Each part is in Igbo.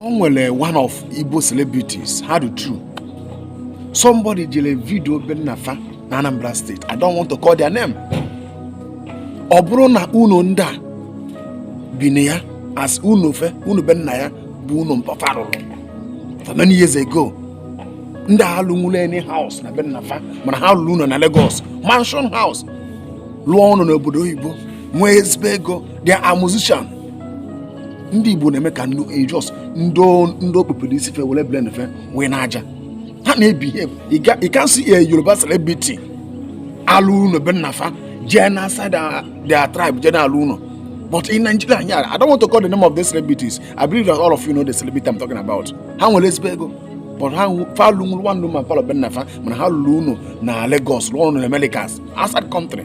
o nwere one of Igbo celebrities ha dị two somebody jere video be nna fa na Anambra State I don't want to call their name ọ bụrụ na ụnọ ndị a bi na ya as ụnọ fe ụnọ be nna ya bụ ụnọ mpa fa rụrụ for many years ago ndị a alụnwụla any house na be nna fa mana ha lụrụ ụnọ na Lagos mansion house lụọ ụnọ n'obodo oyibo nwee ezigbo ego they are musician ndị igbo na-eme ka eh, just ndị o kpupere isi fe were brain fe wee n'aja ha na-behave you can't see eh, yoruba celebrity alụ ụnọ be nna fa jee na outside ah, their tribe jee na alụ ụnọ but in nigeria anyị i don't want to call the name of the celebrities i believe that all of you know the celebrity i'm talking about ha nwere ezigbo ego but ha fa alụnwurọ one room and parlour be nna fa mana ha lụrụ ụnọ na lagos lụọ ụnọ na americas outside country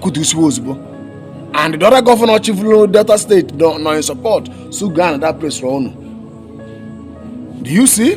kụtusiwe ozugbo and the other governor chịfụrụ delta state nọ in support so gaa na that place rụọ ụnọ do you see